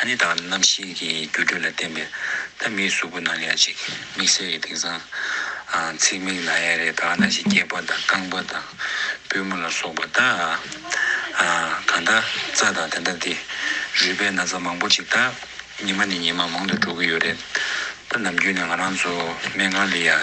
ཨ་ནི་དང་རྣམ་ཤེས་ཀྱི་འགྱུ་འཕྲོད་ལ་བརྟེན་པའི་ཐ་མིའི་གཟུགས་པོ་ནང་ལས་ཅིག་མིག་སེར་གྱི་དིང་སང། ཚིག་མིག་ལ་ཡ་རེ་དག་ན་ཞིག་སྐྱེས་པ་དང་རྐང་པ་དང་པུས་མོ་ལ་སོགས་པ་དག། གང་དག་རྩ་དང་དེ་འདྲ་དེ་རུས་པའི་ན་ཚ་མང་པོ་ཅིག་དག་ཉི་མ་ནས་ཉི་མ་མང་དུ་འགྲོ་གི་ཡོད་རེད་ད་ནམ་རྒྱུན་ནས་ང་རང་ཚོ་སྨན་ཁང་ལས་ཡ།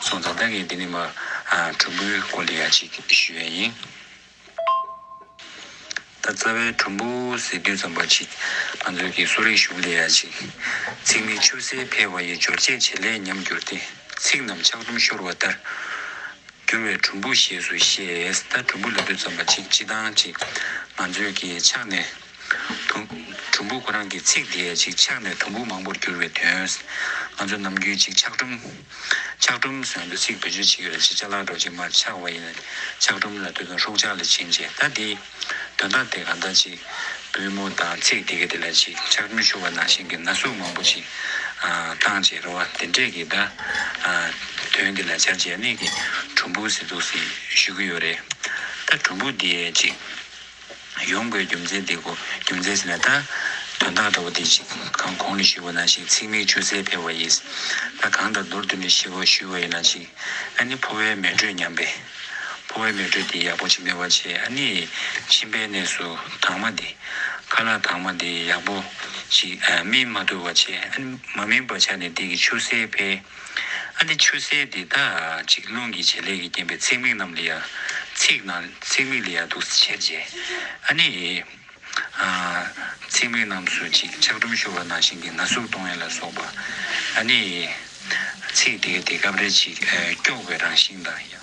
སོང་ཙང་ད་གིན་དེ་ནི་མ་གྲུམ་བུའི་སྐོར་ལས་ཡག་ཅིག་ཞུས་བས་ཡིན། ད་རྩ་བའི་གྲུམ་བུ་ཟེར་དུས་ཙམ་པ་ཅིག་ང་ཚོའི་གི་གསོ་རིག་གཞུང་ལས་ཡག་ཅིག་ཚིག་ནི་ཆུ་སེར་འཕེལ་བ་ཡི་སྦྱོར་སྤྱད་བྱེད་ལས་ཉམས་གྱུར་ཏེ་ཚིག་རྣམས་ཆག་གྲུམ་ཤོར་བ་ལྟར་གྱུར་བས་གྲུམ་བུ་ཞེས་སུ་བཤད། ད་གྲུམ་བུ་ལབ་དུས་ཙམ་པ་ཅིག་སྤྱི་བཏང་ཅིག་ང་ཚོའི་གི་ཕྱག་ནས། གྲུམ་བུ་ཁོ་རང་གི་ཚིག་དེས་ཅིག་ཆགས་ནས་གྲུམ་བུ་མང་པོར་གྱུར་བའི་དོན། ང་ཚོ་ནམ་རྒྱུན་ཅིག་ཆགས་གྲུམ། ཆགས་གྲུམ་ཟེར་འདུག་ཚིག་བེད་སྤྱོད་བྱེད་ཀྱི་རེད་ཅིག་ཆ་ལག་འགྲོ་ཅིག་མར་ཆགས་བ་ཡིན་ལ་ཆགས་གྲུམ་ལ་དུས་ཚོད་ཧྲུག་ཆགས་ལས་ཕྱིན་ཅི་ད་དེ། དོན་དག་དེ་གང་ལྟར་ཅིག་པུས་མོ་དང་ཚིག་དེ་ག་དེ་ལ་ཅིག་ཆགས་གྲུམ་ཤོར་བ་ནང་བཞིན་གྱི་ན་ཟུག་མང་པོ་ཅིག་བཏང་རྗེས་རེ་བ་དེ་འདྲས་ཀྱིས་ད། དོན་དེ་ལ་བྱ་བྱེད་གཉིས་ཀྱིས་གྲུམ་བུ་ཟེར་འདུག་ཟེར་ཞུ་གི་ཡོད་རེད། ད་གྲུམ་བུ་དེས་ཅིག། ཡོང་དགོས་རྒྱུ་མཚན་དེ་གོ་རྒྱུ་མཚན་ཟེར་ན་ད། དོན་དག་ལྟ་བུ་དེ་ཞིག་གང་གོང་ནས་ཞུས་པ་ན་ཞིག་ཚིག་མིག་ཆུ་སེར་འཕེལ་བ་ཡིས། ད་གང་ལྟར་མདོར་བསྡུས་ནས་ཞི་བ་ཞུས་བ་ཡིན་ན་ཞིག། ཨ་ནི་ཕོ་བའི་མེ་དྲོད་ཉམས་པས། ཕོ་བའི་མེ་དྲོད་དེ་ཡག་པོ་ཅིག་སྨེ་བར་བྱས་ཨ་ནི། མཆིན་པའི་གནས་སུ་དྭངས་མ་དེ། ཁ་ལག་དྭངས་མ་དེ་ཡག་པོ་ཅིག་སྨིན་མ་ཐུབ་བར་བྱས་ཨ་ནི། མ་སྨིན་པར་ཆ་ནས་དེ་གི་ཆུ་སེར་འཕེལ། ཨ་ནི་ཆུ་སེར་དེ་དག་ཅིག་རླུང་གི་བྱེད་ལས་ཀྱིས་རྐྱེན་པས་ཚེག་མིག་རྣམས་ལས་ཡར། ཚེག་ནང་ཚེག་མིག་ལས་ཡར་དུ་ཆེར་འབྱེད། ཨ་ནི། ཚེག་མིག་རྣམས་སུ་ཅིག་ཆག་གྲུམ་ཤོར་བ་ནང་ཞིང་གི་ན་ཟུག་གཏོང་ཡས་ལ་སོགས་པ། ཨ་ནི། ཚེག་དེའི་དེ་སྐབས་རེ་ཅིག་སྐྱོགས་པའི་རང་བཞིན་དང།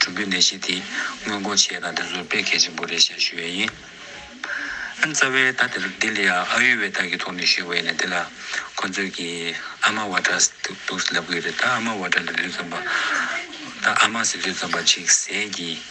གྲུབ་འབྲས་ལས་གཞི་དེ་སྔོན་འགོག་བྱེད་དང་དེ་ཚོར་དཔེ་གལ་ཆེན་པོ་རེད་ཞེས་ཞུ་བས་ཡིན། རྩ་བའི་ད་དེར་ལྡི་ལི་ཨ་ཨ་ཡུ་ཝེ་དཱ་གི་ཐོག་ནས་ཞུས་བས་ན་དེ་ལ་ཁོ་ཚོས་ཀྱི་ཨ་མ་བྷ་ཏྲ་སྟུགས་ལབ་གི་རེད་ད་ཨ་མ་བྷ་ཏྲ་ལས་ལུས་རྩོམ་པ་ད་ཨ་མ་སི་ལུས་རྩོམ་པ་ཅིག་ཟས་ཀྱི་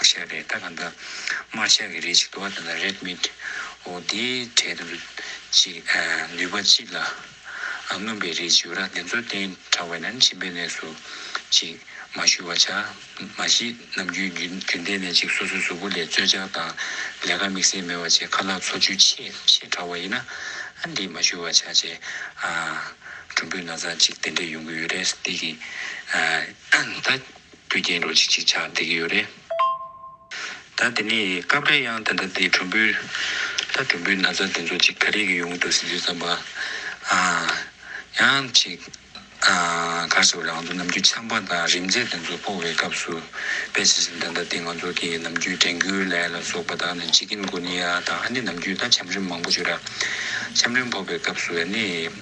བཤད་རེད་ད་ག་འདི་དམར་བཤད་གི་རེད་ཅིག་དུ་བ་དེ་ལ་རེད་མི་འདྲི་འོ་དེའི་གྲས་དུ་ཅིག་ནུས་པ་ཅིག་ལ་མངོན་པའི་རེད་ཅིག་ར་དེ་ཚོ་བསྟན་དྲག་བས་ན་མཆིན་པའི་གནས་སུ་ཅིག་མ་བཞུ་བ་བྱ་མ་གཞི་ནམ་རྒྱུན་རྒྱུན་ལྡན་ནས་ཅིག་སོ་སོའི་གཟུགས་པོ་ལས་རྩོལ་བཅག་དང་ལས་ཀ་དམིགས་བསལ་མེད་བ་ཅིག་ཁ་ལག་འཚོ་བཅུད་ཆེས་ཆེས་དྲག་བ་ཡིན་ན་ཨ་འདི་མ་བཞུ་བ་བྱ་ཅེས་ཨ་གྲུམ་བུས་ན་ཚ་ཅིག་དེ་འདྲས་ཡོང་གི་ཡོད་རེད་ཏིག་གིས་ད། རྒྱུ་རྐྱེན་རོ་གཅིག་ཅིག་ཆགས་བསྡད་ཀྱི་ཡོད་རེད། ད་དེ་ནས་སྐབས་རེ་ཡང་དེ་འདྲ་དེ་གྲུམ་བུའི། ད་གྲུམ་བུའི་ན་བཟའ་དེ་ཚོ་ཅིག་ག་རེ་གི་ཡོང་གི་འདུག་ཟེར་དུས་བསམ་པ། ཨ། ཡང་ཅིག། ཨ། ག་ཟེར་བ་རང་ཚོ་ནམ་རྒྱུན་ཆམ་པ་དང་རིམས་རྫས་དེ་ཚོ་སྤོ་བའི་སྐབས་སུ། དཔེ་བྱས་ཟིན་ད་ལྟ་དེ་ང་ཚོ་དེ་ནམ་རྒྱུན་དྲན་གུ་ལའེ་ལ་སོགས་པ་དག་ནི་ཅིག་གིན་གོ་ནི་ཡ་ད་ཨ་ནི་ནམ་རྒྱུན་ད་ཆམ་རིམས་མང་པོ་བྱོས་ར། ཆམ་རིམས་ཕོ་བའི་སྐབས་སུ་ཡ་ནི།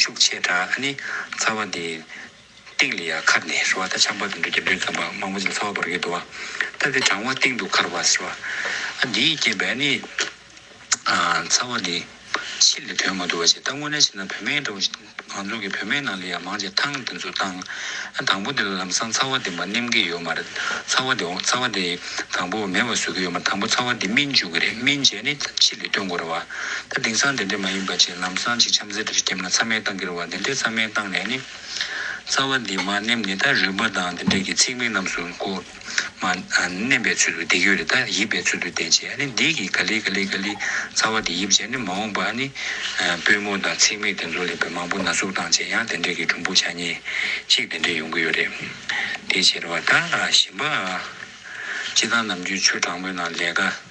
ཤུགས་ཆེ་དྲགས་ཨ་ནི། ཚ་བ་འདི། སྟེང་ལ་ཡ་ཁར་ནས་ཧྲི་བ་ད་ཆང་བ་དང་འབྲུ་རྒྱབ་འདྲེས་ཙམ་པ་མང་པོ་ཅིག་ཚ་བ་བར་གྱི་དུ་བ། ད་དེ་གྲང་བ་སྟེང་དུ་ཁར་བ་ཟེར་བ། ཨ་འདིའི་རྐྱེན་པས་ཨ་ནི། ཚ་བ་འདི། ཕྱི་ལ་དོན་མ་བསྡུ་བ་བྱེད་ད་དངོས་གནས་བྱས་ན་བུད་མེད་འདྲ་བོ་ཞིག་ང་ཚོ་གི་བུད་མེད་ནང་ལ་ཡ་མང་ཆེ་ཐང་འདི་ཚོ་བཏང། ཨ་དང་པོ་འདི་ལ་ལམ་སང་ཚ་བ་འདི་མ་སྣེམ་གི་ཡོད་མ་རེད་ཚ་བ་འདི་འོང་ཚ་བ་འདི། དང་པོ་མེ་བ་བཟོ་གི་ཡོད་མ་དང་པོ་ཚ་བ་འདི་སྨིན་འཇུག་གི་རེད་སྨིན་བྱས་ནི་ཕྱི་ལ་སྟོན་དགོས་རེད་བ། ད་དེང་སང་དེ་འདྲས་མ་ཡིན་པ་ཆེ་ལམ་སང་ཆེ་འཆམ་ཟེར་འདྲ་ཞིག་སྐྱེམས་ན་ཚ་མེད་བཏང་གི་རེད་བ་དེ་འདྲས་ཚ་མེད་བཏང་ནས་ནི། རྩ་བ་འདི་མ་སྣེམས་ནི་ད་རུས་པ་དང་དེ་འདྲས་ཀྱི་ཚིག་མིག་རྣམས་སུ་ཀོ། མ། སྣེམས་པའི་ཚུལ་དུ་བསྡིག་ཡོད་རེད་ད་ཡིབ་པའི་ཚུལ་དུ་བསྡད་ཅེས་ནི་བསྡིག་གི་ག་ལི་ག་ལི་ག་ལི་ཚ་བ་དེ་ཡིབ་བྱས་ནི་མ་འོངས་པ་ནི། པུས་མོ་དང་ཚིག་མིག་དེ་ཚོ་ལས་བུ་མང་པོ་ན་ཟུག་བཏང་བྱས་ཡང་དེ་འདྲས་ཀྱི་གྲུམ་བུ་ཆ་གཉིས་གཅིག་དེ་འདྲས་ཡོང་གི་ཡོད་རེད། དེའི་ཕྱིར་བ་ད་ཞིམ་པ། སྤྱི་བཏང་ནམ་རྒྱུན་ཆུ་གྲང་མོའི་ནང་ལས་ཀ།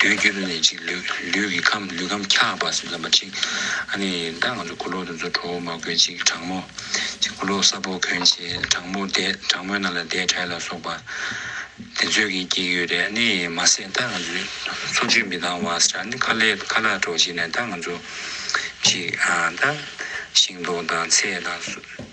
དུས་འགྱུར་ནས་ཅིག་ལུས་ལུས་ཀྱི་ཁམས་ལུས་ཁམས་འཁྱག་པ་ཟིལ་ལམ་པ་ཅིག། ཨ་ནི་ད་ང་ཚོ་སྐུ་ལོག་དུ་ཚོ་ཁྲོ་བོ་མ་དགོས་ཅིག་དྲག་མོ། ཅིག་སྐུ་ལོག་གསར་བོ་གོན་ཆེ་དྲག་མོ་བསྡད་དྲག་མོའི་ནང་ལ་བསྡད་དྲལ་ལ་སོགས་པ། དེ་ཚོས་ཀྱིས་སྐྱེས་ཡོད་རེད་ཨ་ནི་མ་ཟད་ད་ང་ཚོས་འཚོ་བཅུད་མི་འདང་བ་ཟེར་ཨ་ནི་ཁ་ལས་ཁ་ལག་གྲོགས་བྱས་ནས་ད་ང་ཚོ་ཅིག་ཨ་ད་ཤིང་ཏོག་དང་ཚལ་དང།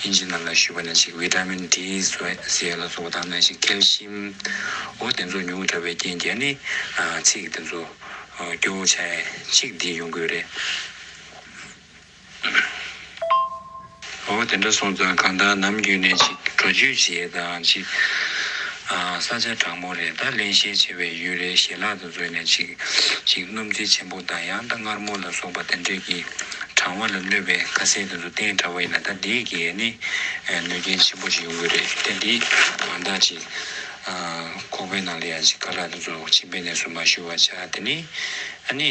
དབྱིན་ཇི་རྣམས་ལ་ཞུས་པ་ནས་ཅིག་བྷི་ཏཱ་མིན་ཏི་ཟས་ལ་ཟོ་བ་དང་ནས་ཅིག་ཀལ་ཤིམ། འོ་དེ་ཚོ་ཉུང་དྲགས་པའི་རྐྱེན་གྱིས་ནི། ཚིག་དེ་ཚོ་སྐྱོ་བོ་ཆ་གཅིག་འདི་ཡོང་དགོས་རེད། འོ་དེ་འདྲ་སོང་ཙང་གང་ལྟར་ནམ་རྒྱུན་ནས་ཅིག་བྲོ་རྒྱུད་བྱེད་དང་ཅིག། ས་ཆ་དྲང་མོ་རེད་ད་གླེང་ཤེས་ཆེ་བའི་ཡུལ་རེད་ཞེ་ལག། བཟོད་ནས་ཅིག་ཅིག་སྣུམ་རྩི་ཆེན་པོ་དང་ཡང་དང་མངར་མོ་ལ་སོགས་པ་དེ་འདྲས་ཀྱིས་གྲང་བ་ལ་གནོད་པའི་ཁ་ཟས་དེ་ཚོ་བསྟེན་དྲགས་པ་ཡིན་ན་ད་འདིའི་གེགས་ནི་གནོད་རྐྱེན་ཆེན་པོ་ཞིག་ཡོང་གི་རེད་དེ་འདི་གང་དག་ཅིག་ཁོག་པའི་ནང་ལ་ཡང་ཅིག་ཀ་ལ་དེ་ཚོ་ཕྱི་པའི་གནས་སུ་མ་ཞུ་བར་བྱ་དེ་ནི་ཨ་ནི།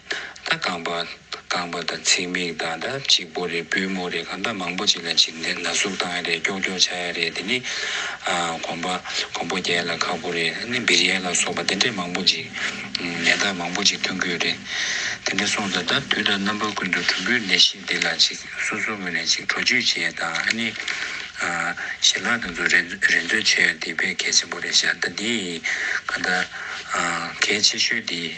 ད་རྐང་པ། རྐང་པ་དང་ཚིགས་མིག་དང་ད་གཅིག་པོ་རེད་པུས་མོ་རེད་གང་ད་མང་པོ་ཅིག་ལ་ཅིག་ནས་ན་ཟུག་བཏང་ཡ་རེད་ཀྱོག་ཀྱོག་བྱ་ཡ་རེད་དེ་ནི། གོམ་པ། གོམ་པོ་རྒྱལ་ལ་ཁག་པོ་རེད་ནི་འབིར་ཡལ་ལ་སོགས་པ་དེ་འདྲས་མང་པོ་ཅིག་ནད་རྟགས་མང་པོ་ཅིག་ཐོན་གྱི་ཡོད་རེད། དེ་འདྲས་སོང་ད་ད་དུས་ད་རྣམ་པ་ཀུན་ཏུ་གྲུམ་བུའི་ནད་གཞི་འདི་ལ་ཅིག་སོ་སོ་ངོས་ནས་ཅིག་དྲོ་བཅུད་བྱས་དང་ནི། ཞལ་ལག་དང་ཚུ་རེན་ཚོད་བྱས་ཡ་འདི་དཔེ་གལ་ཆེན་པོ་རེད་ཞག་ད་འདིའི་གང་ད། གལ་ཆེ་ཤོས་འདི།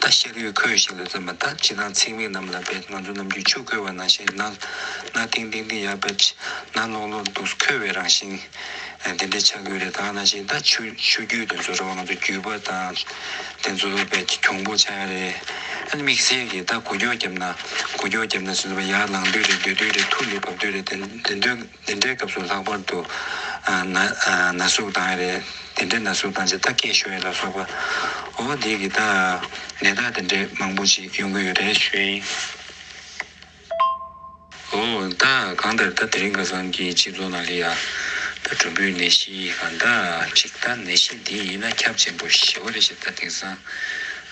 ད་ཤར་ཡུལ་ཁོས་ཞིག་ལ་བརྩོན་པ་ད་ཅི་དང་ཚེག་མིག་རྣམས་ལ་བེད་ང་ཚོ་རྣམས་ཀྱི་ཆུ་ཁོལ་བ་ན་ཞིག་ན་ན་ཏིང་ཏིང་ཏིང་ཡར་བེད་ན་ལོག་ལོག་འདུག་ཁོལ་བའི་རང་བཞིན་དེ་འདྲའི་ཆགས་ཀྱི་རེད་ད་ན་ཞིག་ད་ཆུ་ཆུ་རྒྱུད་དུ་འཛུལ་བ་ང་ཚོ་རྒྱུད་པ་ད་དེ་འཛུལ་བ་བེད་གྱོང་པོ་ཆགས་ཡ་རེད་ཨ་ནི་དམིགས་བསལ་གྱིས་ད་གུ་རྒྱོག་རྒྱབ་ན་གུ་རྒྱོག་རྒྱབ་ན་ཟེར་བ་ཡར་ལངས་དུས་རེད་སྡོད་དུས་རེད་ཐུགས་ལས་བབས་དུས་རེད་དེ་དོན་འདི་འདྲའི་སྐབས་སུ་ལྷག་པར་དུ། ན། ན་ཟུག་བཏང་ཡས་རེད། དེ་འདྲའི་ན་ཟུག་བཏང་རྗེས་ད་སྐད་ཤོད་ཡས་ལ་སོགས་པ། འོ་དེ་གི་ད། ནད་རྟགས་དེ་འདྲས་མང་པོ་ཞིག་ཡོང་གི་ཡོད་རེད་ཞུའོ། འོ་ད་གང་ལྟར་ད་དེ་རིང་ཁ་སང་གི་སྤྱི་ཚོགས་ནང་གི་ཡ། ད་གྲུམ་བུའི་ནད་གཞི་ཡི་གང་ད་ཅིག་ད་ནད་གཞི་འདི་ཡིན་ན་ཁྱབ་ཆེན་པོ་ཞེ་བ་རེད་ཞེས་ད་དེང་སང།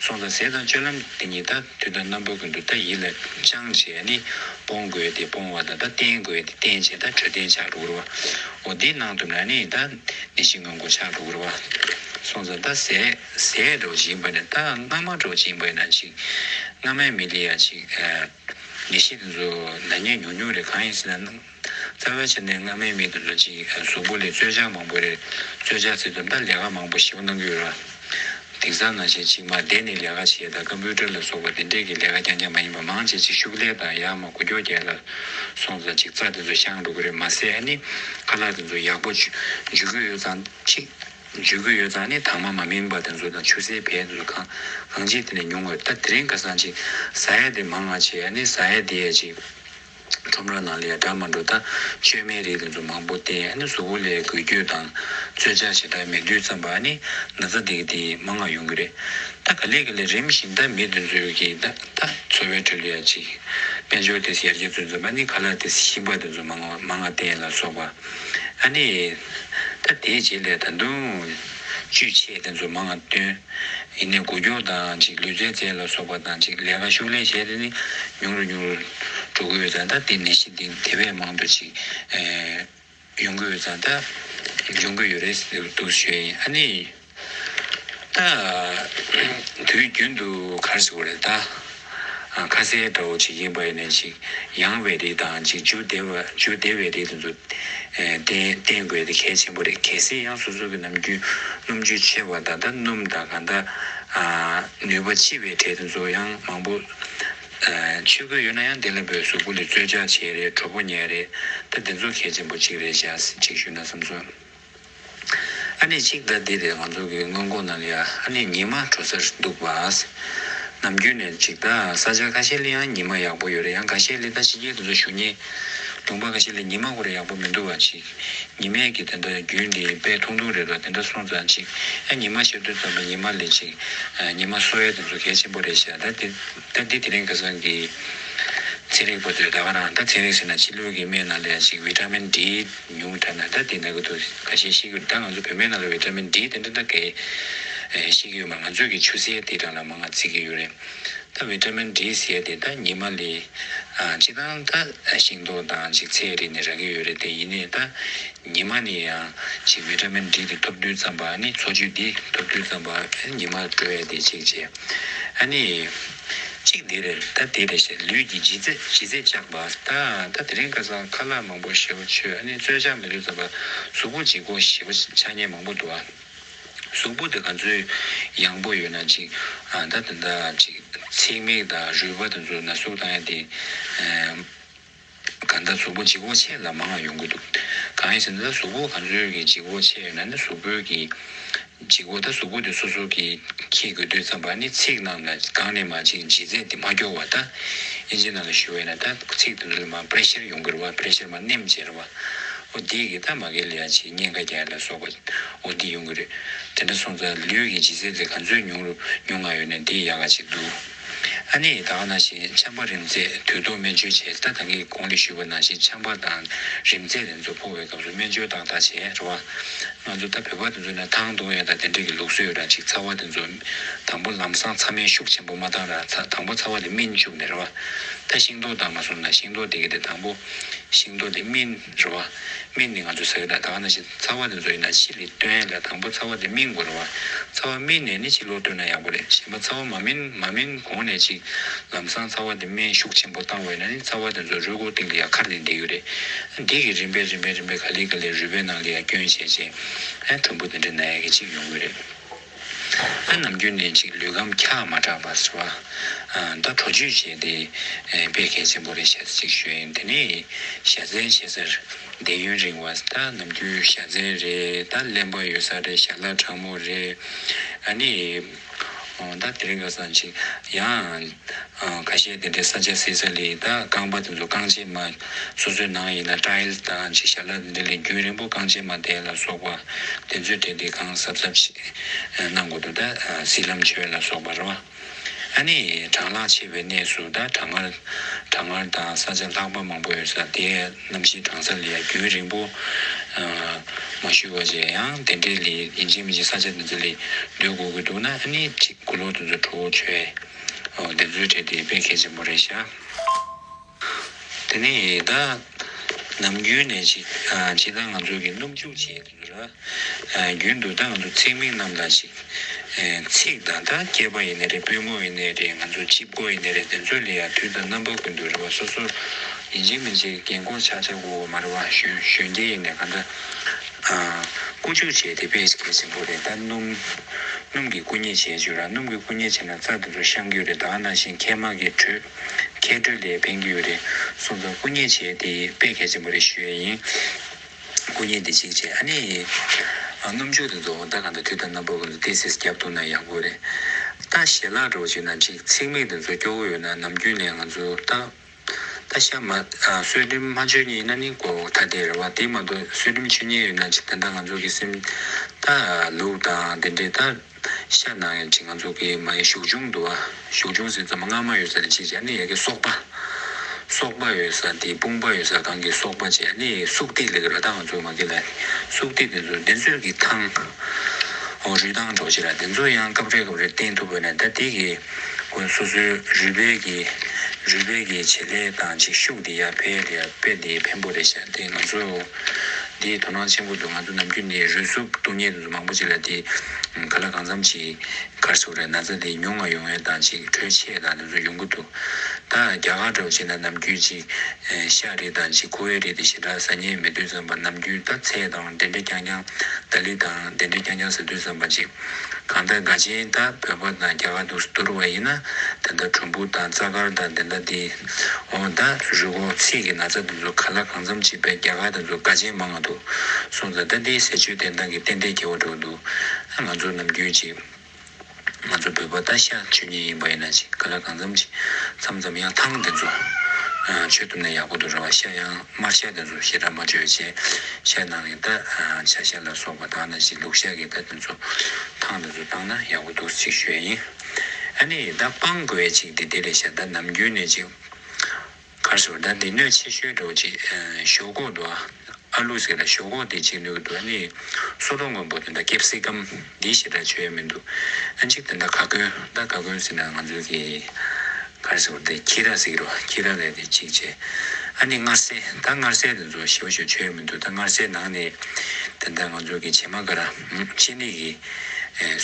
སྲོག་དང་ཟས་དང་སྤྱོད་ལམ་འདི་ཉིད་ད་དུས་ད་རྣམ་པ་ཀུན་ཏུ་ད་ཡིད་ལ་བཅང་བྱས་ནས་སྤོང་དགོས་ཏེ་སྤོང་བ་དང་ད་བསྟེན་དགོས་ཏེ་བསྟེན་བྱས་ད་འཕྲོད་བསྟེན་བྱ་རུ་བར་བའོ། འདི་སྣང་དུ་ན་ནི་ད་ནི་ཞིང་ངམ་སྒོ་ཆགས་རུ་བར་བ། སྲོག་དང་ད་ཟས་ཟས་གྲོགས་སྦྱིན་པ་ནི་ད་སྔ་མ་གྲོགས་སྦྱིན་པ་ན་ཅིག། སྔ་མའི་མི་ལ་ཡང་ཅིག། ངེས་ཤེས་ཏེ་ན་ཉོན་ཉུང་རེ་གང་ཡིན་ཟིན་ན། རྩ་བའི་ཆ་ནས་སྔ་མའི་མི་དེ་ཚོ་གཅིག་གཟུགས་པོ་ལས་རྩོལ་བཅག་མང་པོ་རེད། རྩོལ་བཅག་ཚེ་དུམ་བརྡ་ལས་ཀ་མང་པོ་ཞིབ་གནང་གི་ཡོད་ར། དིང་སང་ནང་བཞིན་ཅིག་མ་བསྡད་ནས་ལས་ཀ་བྱེད་ད་ཀ་འབུལ་སྒྲིལ་ལ་སོགས་པ་དེ་འདྲས་ཀྱི་ལས་ཀ་རྐྱང་རྐྱང་མ་ཡིན་པ་མང་བྱེད་ཅིག་ཤུགས་ལས་དང་ཡག་མ་གོ་རྒྱོ་རྒྱལ་ལ་སོང་ཙང་ཅིག་རྩ་དེ་ཚོ་ཤང་འགྲོ་གི་རེད་མ་ཟད་ཨ་ནི་ཁ་ལག་དེ་ཚོ་ཡག་པོ་འཇུས་གི་ཡོད་ཙང་ཅིག་འཇུས་གི་ཡོད་ཙང་ནི་དྭངས་མ་མ་མིན་པ་དེ་ཚོ་དང་ཆུ་སེར་བལ་དེ་ཚོ་གང་གང་ཅིག་དེ་ནས་ཉུང་ངོས་ད་དེ་རིང་ཁ་སང་ཅིག་ཟ་ཡས་དེ་མང་ང་བྱེད་ཨ་ནི་ཟ་ཡས་དེ་ཡས་ཅིག། ཁྲོམ་ར་ནང་ལས་གྲྭ་མ་འགྲོ་ལྟ་སྤྱོད་མའི་རིགས་ལ་ཚོད་མང་པོ་སྟེ་ཨ་ནི་གཟུགས་པོ་ལས་འགུལ་སྐྱོད་དང་རྩོད་བཅག་བྱེད་སྟངས་མི་བསྡུས་ཙམ་པ་ཨ་ནི་ན་ཚ་དེ་གི་དེ་མ་ང་ཡོང་གི་རེད་ད་ག་ལེ་ག་ལེ་རིམ་བཞིན་ད་མི་དེ་ཚོའི་གི་ད་ད་འཚོ་བའི་ཁྲོད་ལ་ཡ་ཅིག་དཔལ་འབྱོར་དེ་ཡར་རྒྱས་ཚོད་ཚོད་པ་ཨ་ནི་ག་ལ་དེ་ཤིང་པ་དེ་ཚོ་མ་ང་མ་ང་བསྟན་ལ་སོགས་པ་ཨ་ནི་ད་དེའི་རྗེས་ལས་ད་དུང་ཅུས་ཆེ་དེ་ཚོ་མ་ང་བཏོན། ཡིན་ནས་སྒོ་སྐྱོར་དང་གཅིག་ལུས་རྩལ་རྩལ་ལ་སོགས་པ་དང་གཅིག་ལས་ཀ་ཤུགས་ལས་བྱས་ཏེ་ནི་ཉུང་རུ་ཉུང་རུ་འགྲོ་གི་ཡོད་ཙང་ད་ལྟའི་ནད་གཞི་འདི་ནི་དེ་བས་མང་དུ་ཅིག་ཡོང་གི་ཡོད་ཙང་ད་འབྱུང་གི་ཡོད་རེད་ཟེར་གི་འདུག་ཞོལ་ཡིན་ཨ་ནི། ད་དུས་རྒྱུན་དུ་གར་སོང་རེད་ད། ཁ་ཟས་དགྲ་བོ་ཆེ་གེ་བ་ཡི་ནས་ཅིག་ཡང་བའི་རིགས་དང་ཅིག་འཇུ་བདེ་བ་འཇུ་བདེ་བའི་རིགས་དེ་ཚོ་བསྟེན་བསྟེན་དགོས་དེ་གལ་ཆེན་པོ་རེད་གལ་སྲིད་ཡང་སོ་སོ་གི་ནམ་རྒྱུན་སྣུམ་ཆུ་ཆེ་བ་དང་དང་སྣུམ་དང་གང་དག་ནུས་པ་ལྕི་བའི་གྲས་དེ་ཚོ་ཡང་མང་པོ་ཆུད་གོས་ཡོད་ན་ཡང་དེ་ལ་བོད་གཟུགས་པོ་ལས་རྩོལ་བཅག་བྱེད་རེད་གྲོགས་པོ་ཉལ་རེད་ད་དེ་ཚོ་གལ་ཆེན་པོ་གཅིག་རེད་བཞག་ཅིག་ཞུས་ན་བསམ་སོང། ཨ་ནེ་གཅིག་ཟླ་འདི་རེད་ང་ཚོ་གི་སྔོན་གོ་ནང་ཡ་ཨ་ནེ་ཉི་མ་དྲོ་སར་འདུག་བ། ནམ་རྒྱུན་ནས་གཅིག་ཟླ་ས་ཆ་ཁ་ཤས་ལིའང་ཉི་མ་ཡག་པོ་ཡོད་རེད་ཡང་ག་ཤས་ལི་ད་ཕྱི་རྒྱལ་དེ་ཚོ་ཞུ་ཉེ། ལུང་པ་ག་ཤས་ལི་ཉི་མ་གོ་རེ་ཡག་པོ་མི་འདུག་བ་ཅིག་ཉི་མས་གི་དེ་འདྲ་རྒྱུན་འདི་དཔེ་ཐུང་ཐུང་རེད་བ་དེ་འདྲ་སོང་ཙང་ཅིག་ཨ་ཉི་མ་ཤེས་འདོད་ཙམ་པ་ཉི་མ་ལི་ཅིག་ཉི་མ་སོ་ཡ་དེ་ཚོ་གལ་ཆེན་པོ་རེད་ཤག་ད་ད་འདི་དེ་རིང་ཁ་སང་གི་ཚན་རིག་པ་ཚོས་ད་ག་རང་ད་ཚན་རིག་ཟེར་ན་ཕྱི་ལུས་གི་སྨན་ནང་ལ་ཡ་ཅིག Vitamin D། ཉུང་ད་ན་ད་དེ་ན་གི་འདུག་ག་ཤེད་ཤེས་ཀྱི་འདུག་ད་ང་ཚོ་བོད་མའི་ནང་ལ་བའི་འདྲ་མིན་འདིའི་དེ་འདྲ་འདྲ་གས་ཤེས་ཀྱི་ཡོད་མ་ང་ཚོས་གི་ཆུ་སེར་དེ་དྲ་ལ་མ་ང་བརྩི་གི་ཡོད་རེད་ད་བའི་འདྲ་མིན་འདྲིའི་ཟེར་དེ་ད་ཉི་མ་ལས་ཅི་དང་ད་ཤིང་ཏོག་དང་ཅིག་ཚེ་རིང་ནས་རག་གི་ཡོད་རེད་དེ་ཡིན་ནས་ད་ཉི་མ་ནས་ཡང་ཅིག་བའི་འདྲ་མིན་འདྲི་དེ་ཐོབ་དུས་ཙམ་པ་ནི་འཚོ་བཅུད་དེ་ཐོབ་དུས་ཙམ་པ་ཉི་མ་བྲོ་ཡ་དེ་ཅིག་བྱས་ཨ་ནི། གཅིག་དེ་རེད་ད་དེ་རེད་ཞེས་ལུས་ཀྱི་ལྗིད་ཚད་ལྗིད་ཚད་བཅག་པ། ད་ད་དེ་རིང་ཁ་སང་ཁ་ལག་མང་པོ་ཞེ་བོ་ཆོས་ཨ་ནེ་རྩོད་ཆག་མི་ལུས་ཙམ་པ་གཟུགས་པོ་འཇིགས་པོ་ཞེ་བོ་ཆག་ཉེན་མང་པོ་འདུག་ཨ། གཟུགས་པོ་དེ་ག་ཚོད་ཡང་པོ་ཡོད་ན་ཅིག་ད་ད་ད་ཅིག་ཚིག་མིག་དང་རུས་པ་དེ་ཚོ་ན་ཟུག་བཏང་ཡ་དེ། གང་ལྟར་གཟུགས་པོ་འཇིགས་བོ་ཆེ་ལ་མ་ང་ཡོང་གི་འདུག་གང་ཡིན་ཟེར་ན་ད་གཟུགས་པོ་གང་ཟོས་ཀྱི་འཇིགས་བོ་ཆེ་ཡོད་ན་ནི་གཟུགས་པོའི་གི་འཇིགས་བོ་ད་གཟུགས་པོ་དེ་སོ་སོ་གི་ཁྱི་དགོས་དུས་ཙམ་པ་ནི་ཚིག་རྣམས་ལ་གང་ནས་མ་ཅིག་ལྗིད་ཚད་དེ་མ་སྐྱོ་བ་ད་ཨེ་ཇི་ན་ལ་ཞུ་བས་ན་ད་ཚིག་དེ་ལུས་མ Pressure ཡོང་གིར་བ Pressure མ་ནེམ་ཅེར་བ་འོ་འདིས་གི་ད་མ་གལ་ལ་ཡ་ཅིག་སྙན་ཁ་རྒྱག་ལ་སོགས་པ་འོ་འདི་ཡོང་གི་རེད་དེ་འདྲ་སོང་ཙང་ལུས་ཀྱི་ལྗིད་ཚད་དེ་གང་ཚོད་ཉུང་རུ་ཉུང་ང་ཡོད་ན་འདིས་ཡག་ག་ཅིག་འདུག། ཨ་ནེ་ཡི་དྭགས་ན་ཞེས་འཆམ་པ་རིམ་བརྩེགས་དུས་ཐོག་སྨན་བཅོས་ཆེད་ལྟ་དང་གི་གོང་ལས་ཞུས་པ་ན་ཞེས་འཆམ་པ་དང་རིམ་བརྩེགས་རེ་མཚོ་ཕོག་པའི་སྐབས་སུ་སྨན་བཅོས་དང་དང་བྱས་རེད་བ། ང་ཚོ་ད་བོད་པ་དེ་ཚོ་ནས་ཐང་རྡུང་ཡ་དང་དེ་འདྲ་གི་ལུགས་སྲོལ་ཡོད་ར་ཅིག་ཚ་བ་དེ་ཚོ་དང་པོ་ལམ་སང་ཚ་སྨན་ཤུགས་ཆེན་པོ་མ་བཏང་ར་ཚ་དང་པོ་ཚ་བ་དེ་སྨིན་བཅུག་ནས་རེད་བ། ད་ཤིང་ཏོག་བཏང་མ་སོང་ན་ཤིང་ཏོག་དེ་གི་དེ་དང་པོ་ཤིང་ཏོག་དེ་སྨིན། རེད། རེ་བ། མིག་ནི་ང་ཚོའི་ས་ཡོད་ལ་ད་ག་ན་ཕྱི་ཚ་བ་ནས་བཟོ་ཡིན་ན་ཕྱི་ལས་སྟོན་ལ་དང་པོ་ཚ་བ་དེ་སྨིན་དགོས་རེད་བ། ཚ་བ་སྨིན་ནས་ནི་ཕྱི་ལོག་སྟོན་ན་ཡག་པོ་རེད་གཞན་པ་ཚ་བ་མ་སྨིན་མ་སྨིན་གོང་ནས་ཅིག་ལམ་སང་ཚ་བ་དེ་སྨན་ཤུགས་ཆེན་པོ་བཏང་བས་ན་ནི་ཚ་བ་དེ་ཚོ་རུས་སྒོ་སྟེང་ལ་ཡང་ཁར་ནས་འདེད་ཡོད་རེད། འདེད་ཀྱི་རིམ་པས་རིམ་པས་རིམ་པས་ག་ལེ་ག་ལེ་རུས་པའི་ནང་ལ་ཡང་སྐྱོན་བྱས་རྗེས་ཨེ་དྲོན་པོ་དེ་འདྲའི་ན་ཡ་གི་ཅིག་ཡོང་གི་རེད། ལྷ་ནམ་རྒྱུན་ལས་ཅིག་ལུས་ཁམས་འཁྱག་མ་དྲགས་པ་ཟེར་བ། མདའ་གྲོ་བཅོས་བྱས་ཏེ་དཔེ་གལ་ཆེན་པོ་རེ་བྱ་ཚིག་ཤོད་ཡིན་དེ་ནས་བྱ་བཙན་བྱེད་སར་བསྡད་ཡུན་རིང་བ་ལྟ་ནམ་རྒྱུན་བྱ་བཙན་རེ་ལྟ་གླེན་པ་ཡོད་ས་རེ་བྱ་གླ་དྲང་མོ་རེ། ཨ་ནི། ད་དེ་རིང་ག་སང་ཅིག་ཡང། ཁ་ཤས་དེ་འདྲའི་ས་ཆ་བསྲེས་ས་ལས་ད་རྐང་པ་དེ་ཚོ་རྐང་བྱེད་མ། སོ་སོའི་ནང་ཡིན་ན Tiles དང་ཅིག་ཞར་ལ་དེ་འདྲ་ལས་རྒྱུན་རིང་པོ་རྐང་བྱེད་མ་དེ་ལ་སོགས་པ་དེ་ཚོས་དེ་དེ་གང་གཟབ་གཟབ་ཞིག་གནང་དགོས་འདུག་ད་བསིལ་ལམ་ཆོས་ལ་སོགས་པ་རེད་བ། ཨ་ནི་གྲང་ལྷགས་ཆེ་བའི་གནས་སུ་ད་གྲང་ངར་གྲང་ངར་དང་ས་ཆ་ལྷགས་པ་མང་པོ་ཡོད་ས་དེ་རྣམས་ཤིང་གྲང་ས་ལས་ཡང་རྒྱུན་རིང་པོ་མ་བཞུད་བ་བྱས་ཡང་དེ་འདྲའི་ལས་ཡིན་གཅིག་མིན་གཅིག་ས་ཆ་དེ་ཚོ་ལས་སྡོད་དགོས་ཀྱི་འདུག་ན་ཨ་ནི་ཅིག། དགུ་ལོ་དུས་ཚོད་དྲུག་བཅུ། སྡེབ་གཟུགས་བྲིས་ཏེ་དཔེ་ཁེ་ཆེན་པོ་རེ་བྱ། དེ་ནས་ད་ནམ་རྒྱུན་ནས་ཇི་ཇི་ལྟར་ང་ཚོ་གིས་སྣུམ་བྱུག་བྱེད་དུ་འདུག་ལ། རྒྱུན་དུ་ད་ང་ཚོ་ཚེག་མིག་རྣམས་ལ་ཅིག། ཚིག་དང་ད་སྐྱེས་པ་ཡིན་ནི་རེད་པུས་མོ་ཡིན་ནི་རེད་ང་ཚོ་སྤྱི་བོ་ཡིན་ནི་རེད་དེ་ཚོ་ལས་ཡང་དུས་དང་རྣམ་པ་ཀུན་ཏུ་རེ་བ་སོ་སོར་ཡིན་ཅིག་མིན་ཅིག་རྒན་བཀུར་ཆགས་ཆགས་དགོས་དགོས་མ་རེད་བ་གཞོན་སྐྱེས་ཡིན་ནི་ག་འདྲ། བསྐུ་བྱུག་བྱས་ཏེ་བེད་སྐྱེལ་ཟིན་པོ་རེད་ད། སྣུམ། སྣུམ་གྱི་བསྐུ་མཉེ་བྱེད་ཅུ་ར་སྣུམ་གྱི་བསྐུ་མཉེ་བྱས་ན་རྩ་དེ་ཚོ་བཤམ་གྱི་ཡོད་རེད་ད་ནང་བཞིན་མཁལ་མ་གི་དྲོད། མཁལ་དྲོད་ལས་ཕན་གྱི་ཡོད་རེད་གསུངས་སོང་བསྐུ་མཉེ་བྱས་ཏེ་བེད་སྐྱེལ་ཟིན་པོ་རེད་ཞུ་ཡས་ཡིན། བསྐུ་མཉེ་དེ་གཅིག་བྱས་ཨ་ནི། སྣུམ་བྱུག་དེ་ཚོ་ཟླ་གང་དུ་དུས་ད་སྣ་བུག་གང་དུ་ཏི་སིས་བརྒྱབ་འདུག་ན་ཡག་པོ་རེད་ད། ཞལ་ལག་སྒྲོག་ཅིག་ན་ཅིག་ཚིག་མིག་དེ་ཚོ་སྐྱོ་བོ་ཡོད་ན་ནམ་རྒྱུན་ལས་ང་ཚོ་ད། ད་ཤ་མ། བསོད་བསྒྲིམ་མ་བྱོས་ཉེས་ན་ནི་གོ་ད་དེ་རེད་བ་དེ་མ་གཏོགས་བསོད་བསྒྲིམ་བྱོས་ཉེས་ཡོད་ན་ཅི་དེ་འདྲ་ང་ཚོ་གི་སེམས། ད་ལུག་དང་དེ་འདྲས་ད། ཤ་ནང་ཡང་ཅི་ང་ཚོ་གི་མ་ཡི་ཞོགས་ཆུང་འདུག་ཨ། ཞོགས་ཆུང་ཟེར་ཙམ་སྔ་མ་ཡོད་ས་ནི་ཅི་བྱ་ནི་ཡ་གི་སོག་པ། སོག་པ་ཡོད་ས་དེ་དཔུང་པ་ཡོད་ས་གང་གི་སོག་པ་བྱས་ནི་སུག་ཏིག་ལེགས་ར་ད་ང་ཚོ་མ་གི་ལ་ནི་སུག་ཏིག་དེ་ཚོ་དེ་ཚོས་གི་ཐང། ཨོ་རུས་ཐང་གྲོགས་བྱེད་ར་དེ་ཚོ་ཡང་སྐབས་རེ་སྐབས་རེ་བསྟེན་ཐུབ་བོད་ནས་ད་དེ་གི། དགོན་སོ་སོའི་རུས་སྦལ་གྱི་རུས་སྦལ་གྱི་བྱེད་ལས་དང་ཅིག་ཤུགས་དེ་ཡར་འཕེལ་ཡར་འཕེལ་དེ་བེམ་པོ་རེད་བཤད་དེ་ང་ཚོ་དེ་དོ་སྣང་ཆེན་པོ་འདུག་ང་ཚོ་ནམ་རྒྱུན་དེ་རུས་སུབ་སྟོང་ཉེས་དུ་མང་པོ་ཅིག་ལ་དེ་ག་ལ་གང་འཚམ་ཅིག་གར་སོ་རེད་ན་ཚ་དེ་ཉུང་ང་ཡོང་ཡོད་དང་ཅིག་གྲོས་ཆེད་དང་དེ་ཚོ་ཡོང་གི་འདུག་ད་རྒྱ་གར་འདྲ་བོ་བྱེད་ན་ནམ་རྒྱུན་ཅིག་ཤ་རེད་དང་ཅིག་ཁུ་བའི་རེད་དེ་ཞེ་དྲག་ཟ་ཉེས་མེད་དུས་ཙམ་པ་ནམ་རྒྱུན་ད་ཚལ་དང་འདྲེ་འདྲེ་རྐྱང་རྐྱང་ཏཱ་ལི་དང་དེ་འདྲའི་རྐྱང་རྐྱང་ཟེར་དུས་བསམ་པ་གཅིག། གང་ལྟར་དགའ་ཆེན་ད་བོད་པ་དང་རྒྱ་གར་དུ་བསྡུར་བ་ཡིན་ན་དེ་ལྟར་གྲུང་པོ་དང་རྩ་དཀར་དང་དེ་ལྟར་དེ། འོ་ད་རུལ་གོག་ཚིག་གི་ན་ཚ་དེ་ཚོ་ག་ལ་གང་འཚམ་བྱེད་པའི་རྒྱ་གར་དེ་ཚོ་དགའ་ཆེན་མང་ང་འདུག་གསུངས་ཙང་ད་དེའི་ཟེར་ཆོས་དེ་འདང་གི་གཏན་གཏན་གེ་བོ་འགྲོ་གི་འདུག་ང་ཚོ་རྣམས་རྒྱུད་གཅིག། ང་ཚོ་བོད་པ་ལྟ་ཤ་ཆོས་ཉིད་ཡིན་པ་ཡིན་ན་ཅིག་ག་ལ་གང་འཚམ་ཅིག་འཚམ་འཚམ་ཡང་ཐང་འདི་ཚོ་ཆོས་བཏུབ་ན་ཡག་པོ་འདུག་རེ་བ་ཤ་ཡང་དམར་ཤ་འདི་ཚོ་ཞེ་དྲག་མ་བརྗོད་བྱས་ཤ་ནང་གི་རྟ་ཆ་ཤ་ལ་སོགས་པ་དག་ན་ཅིག་ལུག་ཤ་གི་རྟ་འདི་ཚོ་ཐང་འདི་ཚོ་བཏང་ན་ཡག་པོ་འདུག་ཅིག་ཤོད་ཡིན་ཨ་ནི་རྟ་སྤང་དགོས་ཅིག་དེ་དེ་ལས་ཤ་རྟ་ནམ་རྒྱུན་ནས་ཅིག་གར་སོང་ད་འདི་གནོད་ཆེ་ཤོས་འགྲོགས་ཅིག་ཞོག་ཁོག་འགྲོ་ཨ་ལུས་ཟེར་ལ་ཞོག་ཁོག་དེ་ཅིག་ལུས་ཀྱི་འགྲོ་ནི་སོ་ལོ་མགོན་པོ་དེ་འདྲ་སྐྱེབས་སྲིད་ཀམ་འདི་ཞེ་དྲག་བྱོས་ཡ་མི་འདུག་ཨ་འཇིག་དེ་འདྲ་ག་གོན་ད་ག་གོན་ཟེར་ན་ང་ཚོའི་གི་གར་སོང་དེ་ཁྱི་ར་ཟིག་རོ་ཁྱི་ར་ལས་དེ་ཅིག་བྱས་ཨ་ནི་མངར་ཟས་ད་མངར་ཟས་དེ་ཚོ་ཞེ་བ་ཞིག་བྱོས་ཡ་མི་འདུག་ད་མངར་ཟས་ནང་ནས་དེ་འདྲ་ང་ཚོའི་གི་བྱེ་མ་ག་ར་ཨ་ཅི་ནི་གི་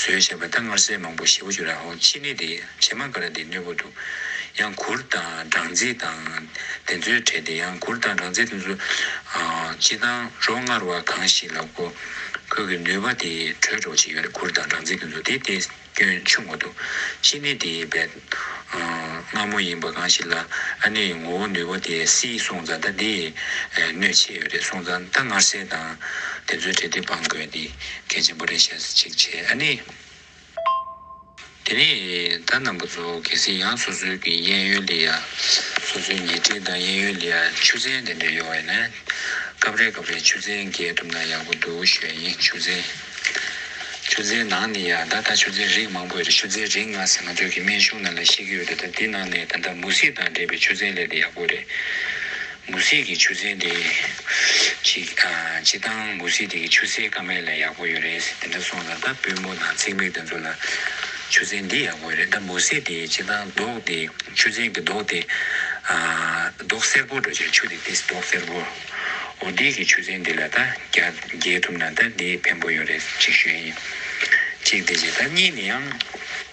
ཟོས་བྱས་པ་ད་མངར་ཟས་མང་པོ་ཞེ་བ་ཞིག་ར་ཧོ་ཅི་ནི་དེ། བྱེ་མ་ཀ་ར་དེའི་གནས་བབ་ཏུ། ཡང་གུར་དང་སྦྲང་རྩི་དང། དེ་ཚོའི་གྲས་ཏེ་ཡང་གུར་དང་སྦྲང་རྩི་དེ་ཚོ། སྤྱི་དང་རོ་མངར་བ་གང་ཞིག་ལ་གོ། ཁོད་ཀྱི་ནུས་པ་དེ་དྲོད་སྒྲོག་བྱེད་ཡོད་རེད་གུར་དང་སྦྲང་རྩི་དེ་ཚོ་དེ་དེའི་སྐྱོན་ཆུང་བ་དུ། ཕྱི་ནི་དེའི་བད། མངར་མོ་ཡིན་པ་གང་ཞིག་ལ། ཨ་ནེའི་ངོ་བོ་ནུས་པ་དེ་སིའི་སོང་ཙང་ད་དེའི། གནོད་བྱེད་ཡོད་རེད་སོང་ཙང་ད་མངར་སེལ་དང། དེ་ཚོའི་གྲས་ཏེ་སྦང་དགོས་དེ། གལ་ཆེན་པོ་རེད་ཞེས་ཅིག་བྱས་ཨ་ནེའི། དེ་ནས་ད་རྣམ་པ་ཚོ་གལ་སྲིད་ཡང་སོ་སོའི་གི་གཡས་གཡོན་ལི་ཡ། སོ་སོའི་ཉེ་འཁྲིས་དང་གཡས་གཡོན་ལི་ཡ་ཆུ་ཚན་དེ་འདྲ་ཡོད་ན། སྐབས་རེ་སྐབས་རེ་ཆུ་ཚན་བརྒལ་ཐུབ་ན་ཡག་པོ་འདུག་ཞོལ་དབྱིངས་ཆུ་ཚན། ཆུ་ཚན་ནང་ནི་ཡང་ད་ད་ཆུ་ཚན་རིགས་མང་པོ་ཡོད་རེད་ཆུ་ཚན་རིགས་ནང་ཟེར་ང་ཚོའི་གི་སྨན་གཞུང་ནང་ལ་ཤེས་ཀྱི་ཡོད་རེད་ད་དེ་ནང་ནས་ད་ད་མུ་ཟི་དང་འདྲེས་པའི་ཆུ་ཚན་ལས་དེ་ཡག་པོ་རེད། མུ་ཟི་གི་ཆུ་ཚན་དེ་ཅིག་ཅི་བཏང་མུ་ཟི་དེ་གི་ཆུ་སེར་ཀ་མེད་ལ་ཡག་པོ་ཡོད་རེད་ཟེར་དེ་འདྲ་སོང་ཙང་ད་པུས་མོ་དང་ཚིག་མིག་དེ་ཚོ་ལ་ཆུ་ཚན་འདི་ཡག་པོ་རེད་ད་མུ་ཟི་དེ་ཅི་བཏང་མདོག་དེ་ཆུ་ཚན་གི་མདོག་དེ་མདོག་སེར་པོ་འགྲོ་ཅིག་ཆུ་དེ་དེ་མདོག་སེར་པོ་འོ་དེ་གི་ཆུ་ཚན་དེ་ལ་ད་རྒྱལ་ཐུབ་ན་ད་དེ་ཕན་པོ་ཡོད་རེད་ཅིག་ཤོས་ཡིན་ཅིག་དེ་བྱས་ད་གཉིས་ནི་ཡང།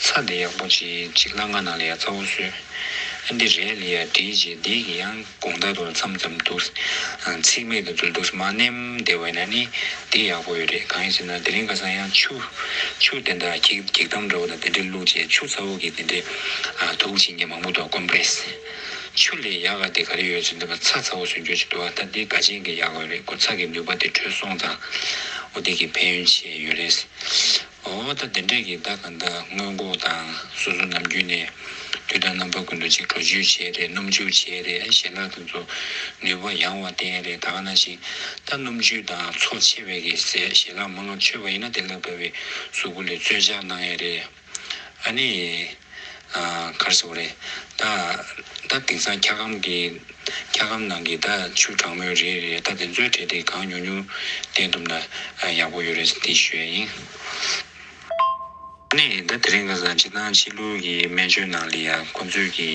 ཚ་འདི་ཡག་པོ་བྱེད་ཅིག་ལ་ང་ནང་ལ་ཡ་རྩ་བོ་བཟོས་ཨ་འདི་རས་ལི་ཡ་བྲིས་རྗེས་འདི་གི་ཡང་དགོངས་དག་ཏུ་མཚམས་ཙམ་འདུག་ཚིག་མེད་དུ་འཛུལ་འདུག་མ་བསྣན་བདེ་བས་ན་ནི་འདི་ཡག་པོ་ཡོད་རེད་གང་ཡིན་ཟེར་ན་དེ་རིང་ཁ་སང་ཡང་ཆུ་ཆུ་དེ་འདྲ་གེགས་གེགས་དམ་འདྲ་བོ་དང་དེ་འདྲས་བླུགས་རྗེས་ཆུ་ཚ་བོ་གི་དེ་འདྲས་དུག་བྱིན་གྱིས་མ་མུ་ཏོག Compress ཆུ་ལས་ཡག་ག་དེ་ག་རེ་ཡོད་ཟེར་འདོད་པ་ཚ་ཚ་བོ་ཟོས་འགྱོད་ཅིག་འདུག་ཨ་ད་འདི་ག་ཅན་གི་ཡག་ག་རེད་ཁོ་ཚ་གི་ནུས་པ་དེ་དྲོད་སོང་ཙང་འོ་འདི་གི་ཕན་ཡོན་ཆེ་ཡོད་རེད། འོ་བ་ད་འདི་འདྲས་ཀྱི་ཟླ་གང་ཟླ་སྔོན་ལྐོག་དང་སོ་སོ་ནམ་རྒྱུན་ནས་དུས་དང་རྣམ་པ་ཀུན་ཏུ་ཅིག་བྲོ་བྱོས་བྱས་རེད་སྣུམ་བྱོས་བྱས་རེད་ཞེས་ལག་དེ་ཚོ་ནུས་པ་ཡང་བ་བསྟན་རེད་ད་ག་ན་ཞིག་ད་སྣུམ་བྱོས་དང་ཚོགས་ཆེ་བས་ཀྱི་ཟས་ཞེ་ལག་མ་ལག་ཆོད་པ་ཡིན་ན་དེ་ལ་དགའ་བའི་གཟུགས་པོ་ལས་རྩོད་བྱ་གནང་ཡས་རེད་ཨ་ནི། གར་སོང་རེད། ད་ད་དེང་སང་འཁྱག་སྒམ་གྱི་འཁྱག་སྒམ་ནང་གི་ད་ཆུ་གྲང་མོའི་རེད་རེད་ད་དེ་ཚོའི་གྲས་དེ་གང་ཉུང་ཉུང་བསྟན་ཐུབ་ན་ཡག་པོ་ཡོད་རེད་དེ་ཤོད་ཡིན། ད་ནས་ད་དེ་རིང་ག་སང་ཕྱི་ནང་ཕྱི་ལུགས་ཀྱི་སྨན་བཅོས་ནང་ལ་ཡང་ཁོང་ཚོས་ཀྱི་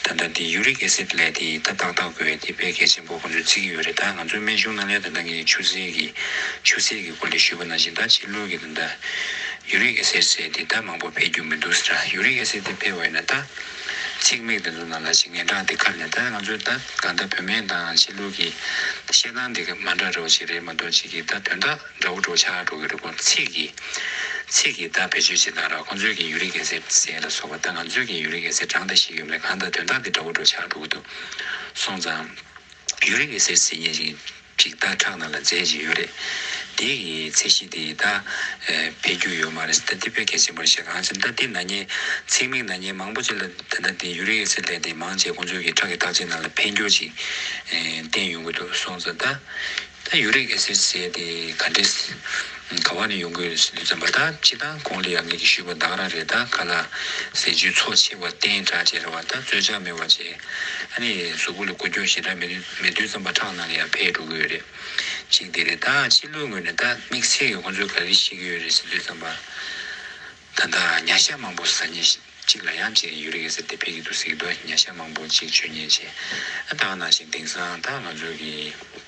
ད་ལྟ་དེ Uric Acid ལས་དེ་ད་ཏག་ཏག་དགོས་དེ་དཔེ་གལ་ཆེན་པོ་ཁོང་ཚོས་བརྩི་གི་ཡོད་རེད་ད་ང་ཚོའི་སྨན་གཞུང་ནང་ལས་ད་ད་གི་ཆུ་སེར་གྱི་ཆུ་སེར་གྱི་སྐོར་ལས་ཞུས་པ་ནང་བཞིན་ད་ཕྱི་ལུགས་ཀྱི། ད། ཡུ་རིག་ཨེ་སེར་བཅས་དེ་ད་མང་པོ་འཕེལ་རྒྱུ་མི་འདུག་ཟེར། ཡུ་རིག་ཨེ་སེར་དེ་འཕེལ་བ་ཡིན་ན་ད། ཚེགས་མེད་དེ་ཚོ་ནང་ལ་ཞིག་ངན་གྲགས་དེ་ཁ་ནས་ད་ང་ཚོའི་ད་གང་ལྟར་བོད་སྨན་དང་ཕྱི་ལུགས་ཀྱི། བཤད་སྟངས་དེ་ག་མ་འདྲ་འདྲ་བོ་ཞིག་རེད་མ་གཏོགས་གཅིག་གིས་ད་དོན་དག་འདྲ་བོ་སྒྲོག་ཆགས་སྒྲོག་གི་རེད་ཁོང་ཚེགས་ཀྱིས། ཚེགས་ཀྱིས་ད་བེད་སྤྱོད་བྱེད་སྟངས་ར་ཁོང་ཚོས་ཀྱིས་ཡུ་རིག་ཨེ་སེར་བཟས་ལ་སོགས་པ་ད་ང་ཚོས་ཀྱིས་ཡུ་རིག་ཨེ་སེར་གྲངས་ད་ཤེས་ཡོད་མེད་གང་ད་དོན་དག་དེ་འདྲ་བོ་སྒྲོག་ཆགས་སྒྲོག་གི་འདུག་སོང་ཙང། ཡུ་རིག་ཨེ་སེར་བཟས་ཉེས་ཅིག། འགྲིག་བརྡ་ཁྲག་ནང་ལ་རྫས་ཅིག་ཡོད་རེད། དེ་ཡི་ཚད་གཞི་དེ་ད་འཕེལ་རྒྱུ་ཡོད་མ་རེད། ད་འདི་དཔེ་གལ་ཆེན་པོར་བཤད་གང་ཅིར་ད་ལྟའི་ནག་ཉེས། ཚེགས་མིག་ནག་ཉེས་མང་པོ་ཅིག་ལ་ད་ལྟ་འདི Uric Acid ལས་དེ་མང་བྱས་གོང་ཚོད་ཀྱི་ཁྲག་གི་བརྟག་དཔྱད་ནང་ལ་འཕེལ་འགྱུར་ཅིག་བསྟན་ཡོང་གི་འདུག་སོང་ཙང་ད། ད Uric Acid ཟེར་དེ་ག་འདྲའི། ག་བ་ནས་ཡོང་གི་ཡོད་ཙམ་པ་ད་ཅི་ད་གོང་ལས་ཡག་ངེད་ཀྱི་ཞུས་པ་བདག་ར་རེད་ད་ག་ལ་ཟས་ཇུས་ཚོགས་ཆེ་བ་བསྟན་དྲག་ཅེས་ར་བ་ད་རྩོད་ཆགས་མེད་བ་ཅེས་ཨ་ནེ་གཟུགས་པོ་ལ་གོ་རྒྱོ་ཞེ་དྲག་མེད་མེད་དུས་ཙམ་པ་ཁྲག་ནང་ལ་ཡང་འཕེལ་འགྲོ་གི་ཡོད་རེད་གཅིག་དེ་རེད་ད་ཕྱི་ལོའི་སྔོན་ནས་ད་དམིགས་བསལ་གྱི་ཁོང་ཚོས་ག་རེ་བཤད་ཀྱི་ཡོད་རེད་ཟེར་དུས་ཙམ་པ་ད་ད་ཉྭ་ཤ་མང་པོ་ཟ་ཉེ་གཅིག་ལ་ཡང་གཅིག་ཡོད་རེད་ཟེར་དེ་འཕེལ་གྱི་འདུག་ཟེར་གྱི་འདུག་ཉྭ་ཤ་མང་པོ་གཅིག་བྱོས་ཉེ་ཆེ་ད་ནང་བཞིན་དེང་སང་ད་ང་ཚོ་གི།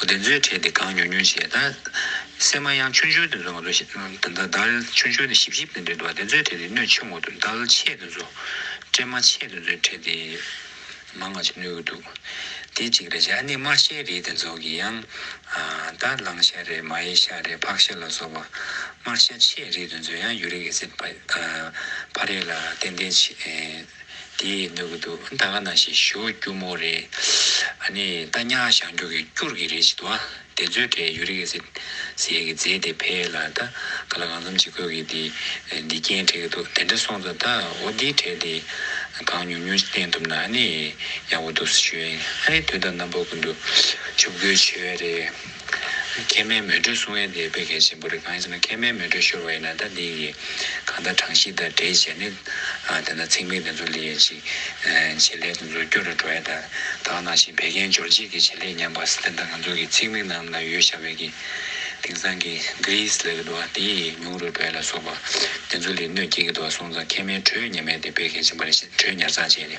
བདེན་རྫུན་ཕྲད་དེ་གང་ཉོ་ཉོ་བྱས་ད། སེམས་མ་ཡང་ཆུང་ཆུང་དུ་འཛོལ་བ་དང་ད་ལྟ་ཆུང་ཆུང་དུ་ཞིབ་ཞིབ་དུ་འདྲེན་འགྲོ་བ་བདེན་རྫུན་ཕྲད་དེ་སྣོད་ཆེན་མོ་དུ་འདལ་ཆེད་དུ་འཛོལ། སྤྲེལ་མ་ཆེད་དུ་འཛོལ་ཕྲད་དེ། མ་ང་ཅིག་ནུས་ཀྱི་འདུག། དེ་གཅིག་རེད་བྱས་ཨ་ནི་དམར་ཤལ་རེད་དེ་ཚོ་གི་ཡང། ད་གླང་ཤ་རེད་མ་ཡི་ཤ་རེད་ཕག་ཤ་ལ་སོགས་པ། དམར་ཤ་ཆེད་རེད་དུ་འཛོལ་ཡང་ཡུ་རིག་ཨེ་སིད་ཕ་རེད་ལ་ཏན་ཏན་བྱེད། དེ་ནོར་གི་འདུག་ད་ག་ནང་བཞིན་ཞུ་རྒྱུ་མོ་རེད་ཨ་ནི་ད་ཉག་བཞག་འགྱུར་གི་སྐྱུར་གི་རེད་ཅིག་འདུག་ཨ་དེ་ཚོའི་གྲས་ཡོད་རེད་གི་ཟེར་ཟེར་གི་རྫས་དེ་ཕལ་ལ་ད་ག་ལ་གང་འཚམ་ཅིག་དགོས་གི་འདི་འདི་རྐྱེན་འཕྲད་གི་འདུག་དེ་འདྲ་སོང་ཙང་ད་འོ་འདི་གྲས་དེ་གང་ཉུང་ཉུང་ཅིག་བསྟན་ཐུབ་ན་ཨ་ནི་ཡག་པོ་འདུག་ཟེར་ཞུ་ཨ་ནི་དུས་ད་ནམ་པ་ཀུན་ཏུ་ཆུ་བསྐོལ་བྱེད་རེད། མཁལ་མའི་མེ་དྲོད་སྲུང་བའི་དེ་བས་གལ་ཆེན་པོ་རེད་གང་ཡིན་ཟེར་ན་མཁལ་མའི་མེ་དྲོད་ཤོར་བ་ཡིན་ན་ད་འདི་ཡི་གང་ལྟར་གྲངས་གཞི་དང་འདྲེས་བྱས་ནས་དེ་ན་ཚེགས་མིག་དེ་ཚོ་ལས་ཡས་ཅིག་བྱེད་ལས་དེ་ཚོ་སྐྱོ་རུ་འགྲོ་ཡས་ད་དག་ནང་བཞིན་བད་ཀན་འབྱོར་རྗེས་ཀྱི་བྱེད་ལས་ཉམས་པ་སེ་དེ་ད་ང་ཚོ་གི་ཚེགས་མིག་རྣམས་ལ་ཡོད་ཤ་བས་ཀྱི་དེང་སང་གི Greece ལས་ཀྱི་དུ་བ་དེ་ཡི་ཉུང་རུ་འགྲོ་ཡས་ལ་སོགས་པ་དེ་ཚོ་ལས་གནོད་སྐྱེལ་གྱི་དུ་བ་སོང་ཙང་མཁལ་མའི་དྲོད་ཉེན་མེད་དེ་བས་གལ་ཆེན་པོ་རེད་བྱས་ཏེ་དྲོད་ཉར་ཚགས་བྱས་ཏེ།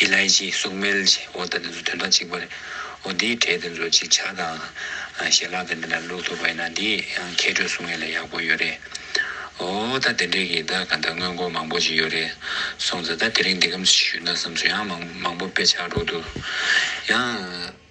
ཨེ་ལཱའི་ཀྱི་སུག་སྨེལ་ཞེས་འོ་ད་དེ་ཚོ་དོན་དག་གཅིག་པ་རེད། འོ་དེའི་གྲས་དེ་ཚོ་ཅིག་ཆ་དང། ཞལ་ལག་དེ་འདྲ་ན་བླུགས་ཐུབ་པ་ཡིན་ན་དེ་ཡང་མཁས་གྲོས་སུ་ངེས་ལ་ཡག་པོ་ཡོད་རེད། འོ་ད་དེ་འདྲས་ཀྱི་ད་ག་ད་དངོས་མགོ་མང་པོ་ཅིག་ཡོད་རེད་སོང་ཙ་ད་དེ་རིང་འདི་གམ་ཞིག་ཞུས་ན་བསམ་ཚུལ་ཡང་མང་མང་པོ་དཔེ་ཆགས་འགྲོ་འདུག་ཡང།